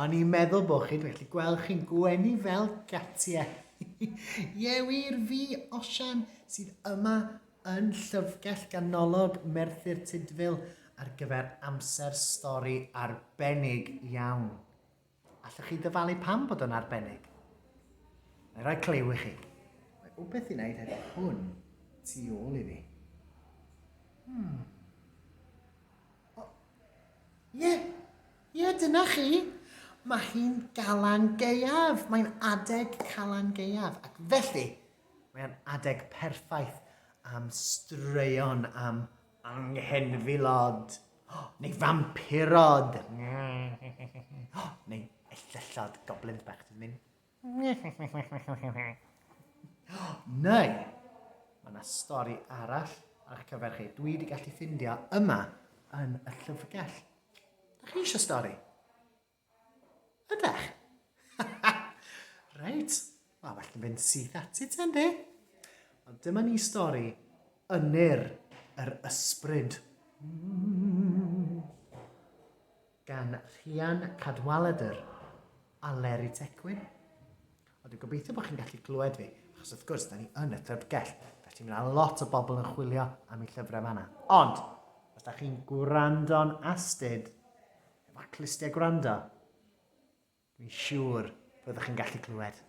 O'n i'n meddwl bod chi'n gallu gweld chi'n gwenu fel gatie. Ie wir, fi, Osian, sydd yma yn llyfrgell ganolog Merthyr Tudful ar gyfer amser stori arbennig iawn. Allwch chi ddyfalu pam bod o'n arbennig? Mae rhoi clyw i chi. Mae wbeth i wneud hefyd hwn tu ôl i fi. Hmm. O, ie, ie, dyna chi. Mae hi'n galan geiaf. Mae'n adeg calan geiaf. Ac felly, mae'n adeg perffaith am straeon am anghenfilod. Oh, neu fampirod. Oh, neu ellyllod goblins bach, ti'n mynd? Neu, mae 'na stori arall ar eich cyfer chi dwi wedi gallu ffindio yma yn y llyfrgell. Da chi eisiau stori? Ydech? Reit, mae well yn fynd syth ati ti, yndi? Ond dyma ni stori Ynyr yr Ysbryd. Mm. gan Rhian Cadwaladr a Leri Tecwyn. Ond dwi'n gobeithio bod chi'n gallu clywed fi, achos wrth gwrs, da ni yn y llyfrgell, felly mae yna lot o bobl yn chwilio am ei llyfrau fanna. Ond, os da chi'n gwrando'n astud, efo clustiau gwrando, dwi'n siŵr byddwch chi'n gallu clywed.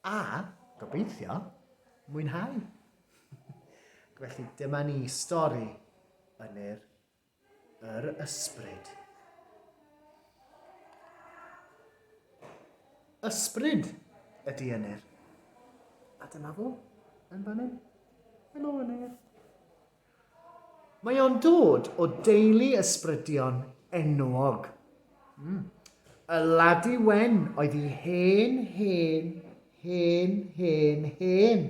A, gobeithio, mwynhau. Felly dyma ni stori yn yr Yr ysbryd. Ysbryd ydy Ynyr. A dyma fo, yn fan hyn. Helo Ynyr. Mae o'n dod o deulu ysbrydion enwog. Mm. Y ladi wen oedd i hen, hen, hen, hen, hen,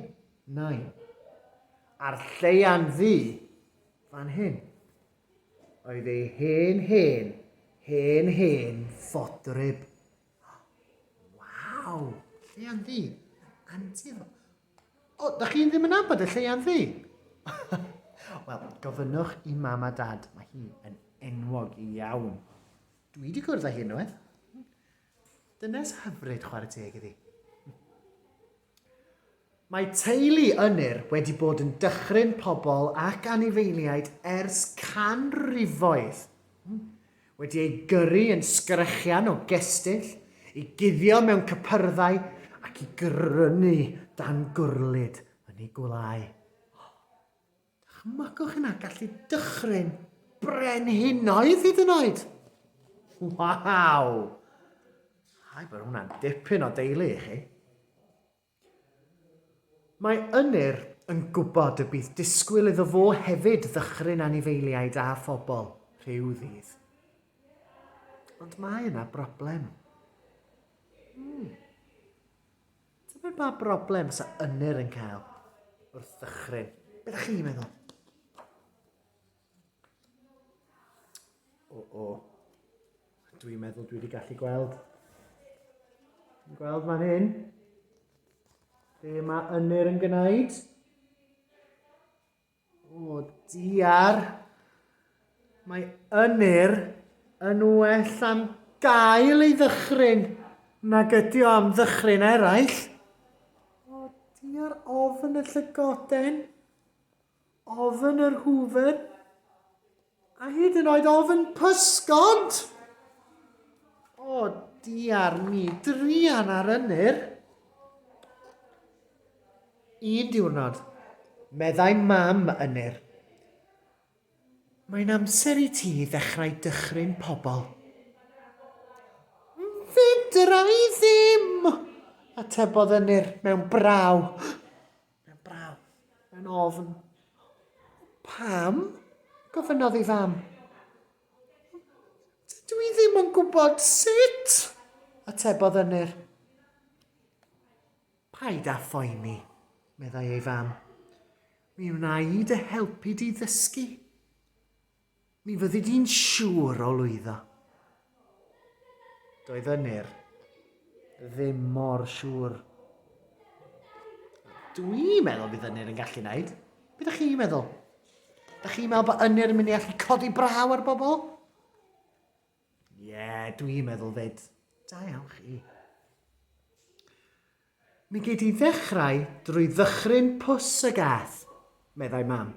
nai. A'r lleian ddu Fan hyn oedd ei hen hen hen hen fodryb. Waw! Lleian ddu. Antur. O, da chi ddim yn abod y lleian ddu? Wel, gofynnwch i mam a dad, mae hi yn enwog iawn. Dwi wedi cwrdd â hi unwaith. Dynes hyfryd chwarae teg iddi. Mae teulu Ynyr wedi bod yn dychryn pobl ac anifeiliaid ers canrifoedd, wedi eu gyrru yn sgrechian o gestyll, i guddio mewn cypyrddau ac i grynu dan gwrlid yn eu gwelyau. Dychmygwch hynna, gallu dychryn brenhinoedd hyd yn oed! Waw! Hai bod hwnna'n dipyn o deulu i chi. Mae Ynyr yn gwybod y bydd disgwyl iddo fo hefyd ddychryn anifeiliaid a phobl rhyw ddydd. Ond mae yna broblem. Hmm. Tybed pa broblem fysa Ynyr yn cael wrth ddychryn? Be ydych chi'n meddwl? O, o. Dwi'n meddwl dwi wedi gallu gweld. Dwi'n gweld fan hyn. Be mae Ynyr yn gwneud? O diar! Mae Ynyr yn well am gael ei ddychryn nag ydi o am ddychryn eraill. O diar ofn y llygoden, ofn yr hwfr. A hyd yn oed ofn pysgod! O, diar mi, drian ar ynyr. Un diwrnod, meddai mam ynyr. Mae'n amser i ti ddechrau dychryn pobl. Fedra i ddim! atebodd ynyr mewn braw. Mae'n braf. Mae'n ofn. Pam? gofynnodd ei fam. Dydw i ddim yn gwybod sut, atebodd Ynyr. Paid â phoeni, meddai ei fam. Mi wna i dy helpu di ddysgu. Mi fyddi di'n siŵr o lwyddo. Doedd Ynyr ddim mor siŵr. Dwi'n meddwl bydd Ynyr yn gallu wneud. Be da chi'n meddwl? Da chi'n meddwl bod Ynyr yn mynd i allu codi braw ar bobl? Ie, dwi'n meddwl fyd. Da iawn chi. Mi gei di ddechrau drwy ddychryn pws y gath, meddai mam.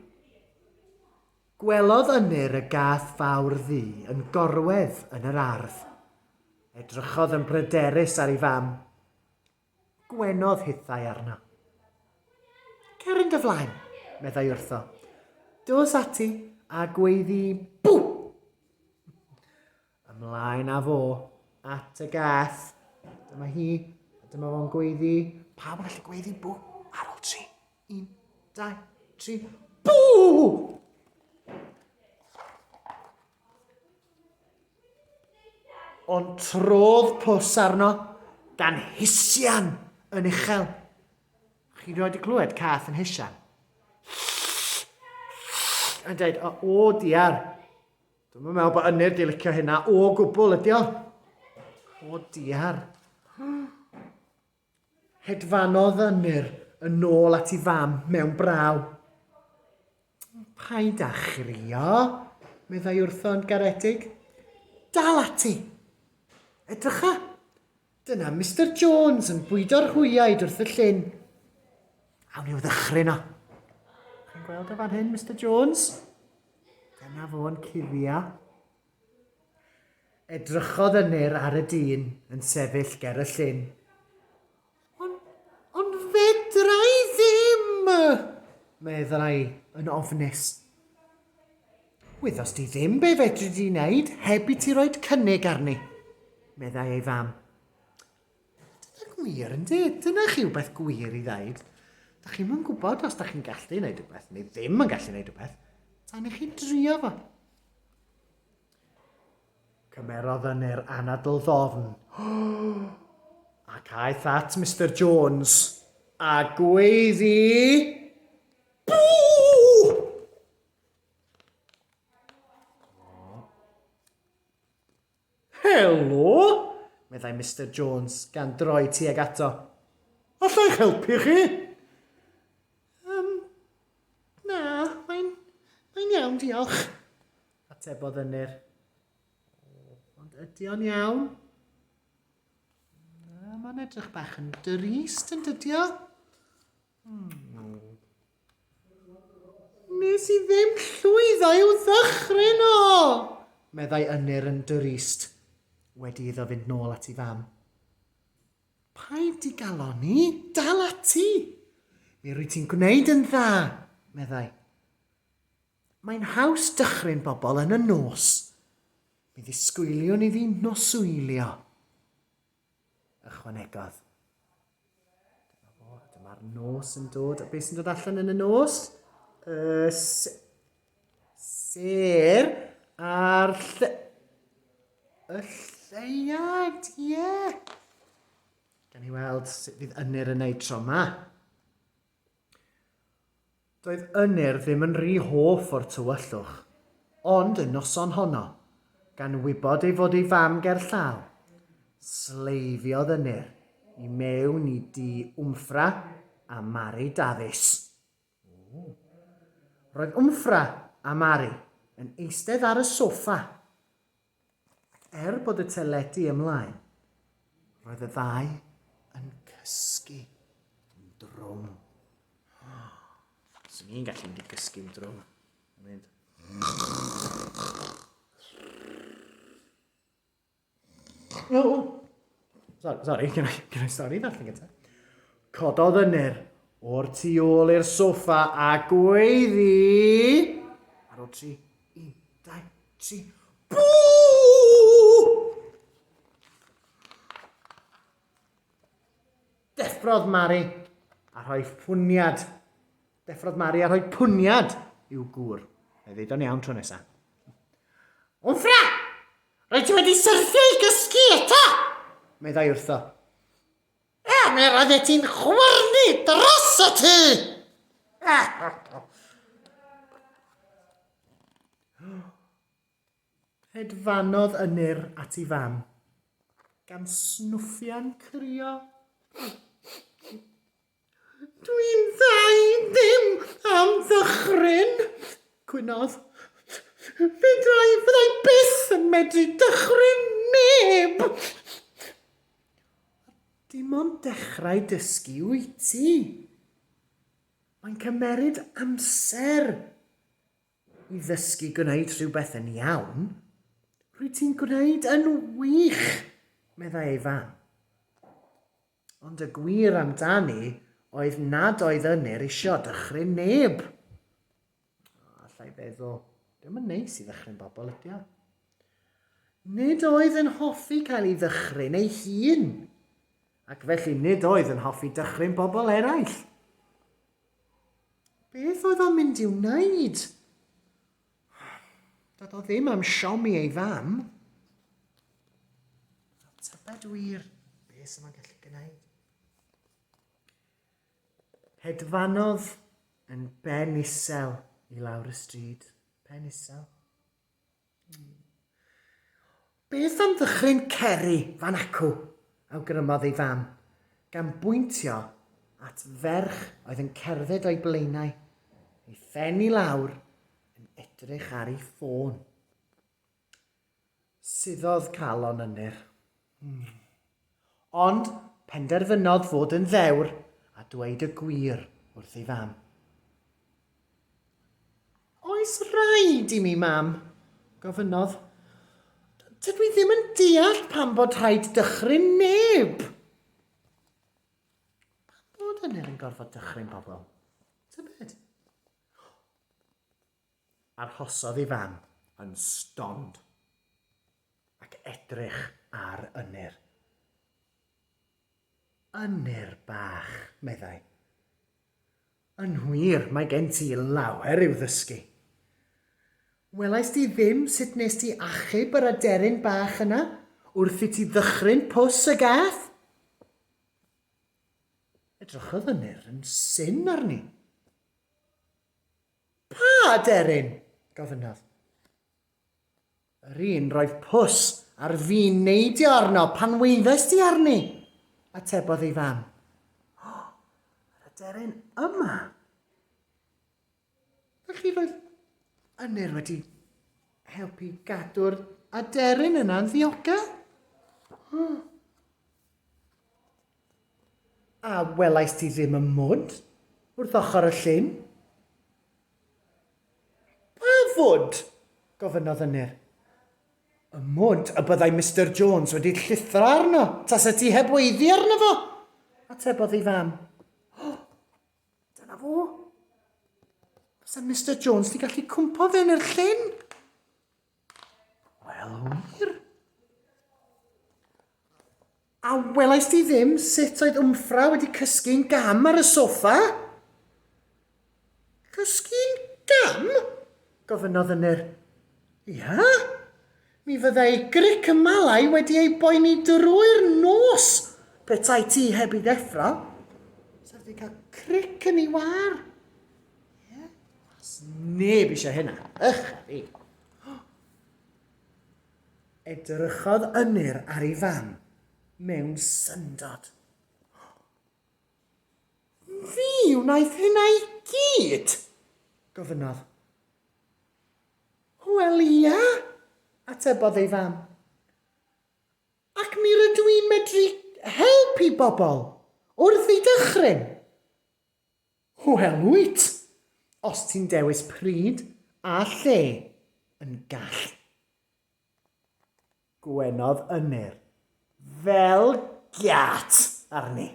Gwelodd Ynyr y gath fawr ddu yn gorwedd yn yr ardd. Edrychodd yn bryderus ar ei fam. Gwenodd hithau arno. Cer yn dy flaen, meddai wrtho. Dos ati a gweiddi bw! Ymlaen a fo at y gath. Dyma hi, a dyma fo'n gweiddi. Pawb yn gallu gweiddi bw ar ôl tri. Un, dau, tri. Bw! Ond trodd pws arno gan hisian yn uchel. Chi'n rhoi wedi clywed cath yn hisian? Yn dweud, o, o diar, dwi'n meddwl bod ynyr di licio hynna o gwbl ydi o. O diar. Hedfanodd Ynyr yn ôl at ei fam mewn braw. Paid â chrio, meddai wrtho yn garedig. Dal ati! Edrycha! Dyna Mister Jones yn bwydo'r hwyaid wrth y llyn. Awn i'w ddychryn o. Chi'n gweld o fan hyn, Mister Jones? Dyna fo'n cuddio. Edrychodd Ynyr ar y dyn yn sefyll ger y llyn. Ond, ond fedra i ddim! meddai yn ofnus. Wyddost di ddim be fedri di wneud heb i ti roed cynnig arni, meddai ei fam. Dyna gwir, yndi? Dyna chi wbeth gwir i ddaid. Da chi'n mwyn gwybod os da chi'n gallu wneud rhywbeth neu ddim yn gallu wneud rhywbeth, tan i chi drio fo. Cymerodd yn er anadl ddofn. Ac aeth at Mr Jones a gweiddi... Helo! meddai Mister Jones, gan droi tuag ato. Alla i'ch helpu chi? Um, na, mae'n mae'n iawn, diolch, atebodd Ynyr. Ond ydy o'n iawn? Na, mae'n edrych bach yn dyrist yn dydio. Nes i ddim llwyddo i'w ddychryn o! meddai Ynyr yn drist, wedi iddo fynd nôl at ei fam. Paid i galoni, dal ati! Mi rwy ti'n gwneud yn dda, meddai. Mae'n haws dychryn bobl yn y nos. Mi ddisgwyliwn i fi noswylio. Ychwanegodd, Dyma fo, dyma'r nos yn dod. A beth sy'n dod allan yn y nos? Y ser a'r lle... Y lleiad, ie! Yeah. Gan i weld sut fydd ynyr yn ei tro yma. Doedd Ynyr ddim yn rhy hoff o'r tywyllwch, ond y noson honno, gan wybod ei fod ei fam ger llaw, sleifiodd Ynyr i mewn i dŷ Wmffra a Mari Dafis. Roedd Wmffra a Mari yn eistedd ar y soffa, Er bod y teledu ymlaen, roedd y ddau yn cysgu yn drwm. Swn i'n gallu mynd i gysgu yn drwm. Mynd. No! Sorry, can I, can I sorry that thing gyda? Cododd ynyr o'r tu ôl i'r soffa a gweiddi... Ar ôl tri, un, dau, tri, bŵ! Deffrodd Mari a rhoi ffwniad Deffrodd Mari a rhoi pwniad i'w gŵr. Mae ddeud o'n iawn tro nesa. Wmffra! Rhaid ti wedi syrthio i gysgu eto! Meddai wrtho. A mi roeddet ti'n chwyrnu dros y tŷ! Hedfanodd Ynyr at ei fam, gan snwffian crio. Dwi'n ddau ddim am ddychryn, cwynodd. Fyddai, fyddai byth yn medru dychryn neb! Dim ond dechrau dysgu wyt ti. Mae'n cymeryd amser i ddysgu gwneud rhywbeth yn iawn. Rwy ti'n gwneud yn wych, meddai ei fam. Ond y gwir amdani oedd nad oedd Ynyr isio dychryn neb. O, alla i feddwl, ddim yn neis i ddychryn bobl ydi o. Nid oedd yn hoffi cael ei ddychryn ei hun, ac felly nid oedd yn hoffi dychryn bobl eraill. Beth oedd o'n mynd i'w wneud? Doedd o ddim am siomi ei fam. Fel tybed wir beth sy'n ma'n gallu gwneud. Hedfanodd yn ben isel i lawr y stryd. Pen isel. Mm. Beth am ddychryn Ceri fan acw? awgrymodd ei fam, gan bwyntio at ferch oedd yn cerdded o'i blaenau, ei phen i lawr, yn edrych ar ei ffôn. Suddodd calon Ynyr. Hmm. Ond penderfynodd fod yn ddewr a dweud y gwir wrth ei fam. Oes rhaid i mi, Mam? gofynnodd. Dydw i ddim yn deall pam bod rhaid dychryn neb. Pam bod yna yn gorfod dychryn pobl? Tybed? Arhosodd ei fam yn stond ac edrych ar Ynyr. Ynyr bach, meddai. Yn wir, mae gen ti lawer i'w ddysgu. Welaist ti ddim sut nes ti achub yr aderyn bach yna wrth i ti ddychryn pws y gath? Edrychodd Ynyr yn syn arni. Pa aderyn? gofynnodd. Yr un roedd Pws ar fin neidio arno pan weiddes di arni, atebodd ei fam. O, yr aderyn yma. Felly roedd Ynyr wedi helpu gadw'r aderyn yna'n ddiogel. A welais di ddim y mwd wrth ochr y llyn? Pa fwd? gofynnodd Ynyr. Y mwd y byddai Mister Jones wedi llithro arno taset ti heb weiddi arno fo, atebodd ei fam. O! Dyna fo! Bysa Mister Jones 'di gallu cwmpo fe yn yr llyn! Wel, wir? A welais ti ddim sut oedd Wmffra wedi cysgu'n gam ar y sofa? Cysgu'n gam? gofynnodd Ynyr. Ia? Mi fyddai gric y malau wedi ei boeni drwy'r nos petai ti heb i ddeffro. Sef wedi cael cric yn ei war. Ie? Os neb eisiau hynna, ych a fi. Edrychodd Ynyr ar ei fam mewn syndod. Fi wnaeth hynna i gyd? gofynnodd. Wel ia, atebodd ei fam. Ac mi rydw i'n medru helpu bobl wrth ei dychryn. Wel wyt! Os ti'n dewis pryd a lle, yn gall. Gwenodd Ynyr. Fel giât arni!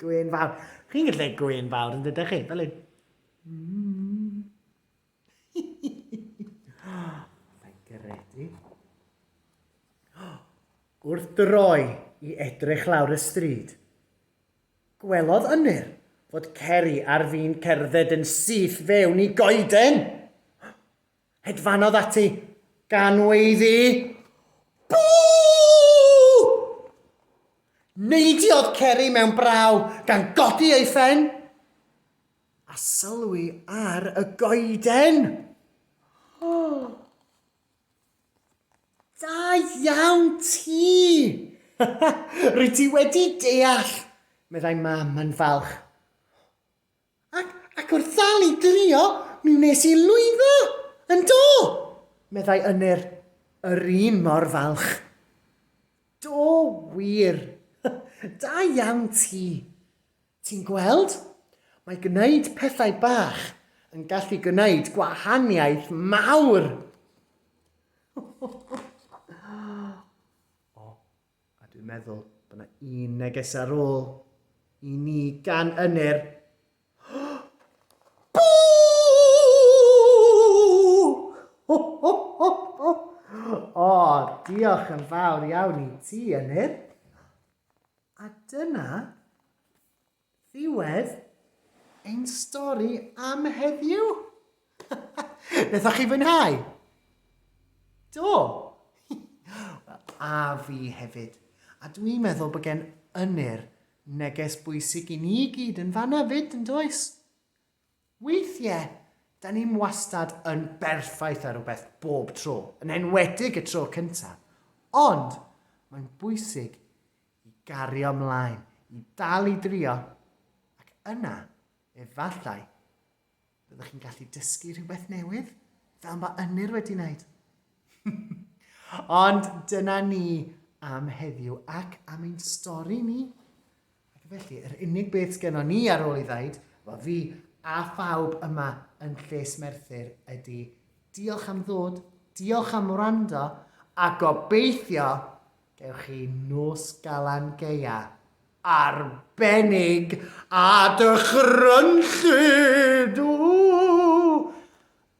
Gwên fawr. Chi'n gallu gwneud gwên fawr yn dydych chi? Fel hyn. Mae'n gredu. Wrth droi i edrych lawr y stryd, Gwelodd Ynyr fod Ceri ar fin cerdded yn syth fewn i goeden. Hedfanodd ati, gan weiddi, Bŵ! Neidiodd Ceri mewn braw, gan godi ei phen, a sylwi ar y goeden. Da iawn ti! Rwy ti wedi deall, meddai Mam yn falch. Ac, ac wrth ddal i drio, mi wnes i lwyddo! Yn do! meddai Ynyr, yr un mor falch. Do wir! Da iawn ti! Ti'n gweld? Mae gwneud pethau bach yn gallu gwneud gwahaniaeth mawr! o, a dwi'n meddwl bod yna un neges ar ôl i ni gan ynyr Diolch yn fawr iawn i ti, Enid. A dyna ddiwedd ein stori am heddiw. Wnaethoch chi fwynhau? Do! a fi hefyd. A dwi'n meddwl bod gen ynyr neges bwysig i ni gyd yn fanna fyd, yn does? Weithie, 'da ni'm wastad yn berffaith ar rwbeth bob tro, yn enwedig y tro cynta. Ond, mae'n bwysig i gario mlaen, i dal i drio, ac yna, efallai, byddwch chi'n gallu dysgu rhywbeth newydd, fel mae Ynyr wedi wneud. Ond dyna ni am heddiw ac am ein stori ni. Ac felly, yr unig beth sgennon ni ar ôl i ddaid, wel fi a phawb yma yn Lles Merthyr ydy diolch am ddod, diolch am wrando, a gobeithio gewch chi nos galan geia arbennig a dychrynllyd! Ww!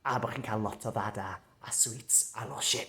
A bod chi'n cael lot o ddada a sweets a losin.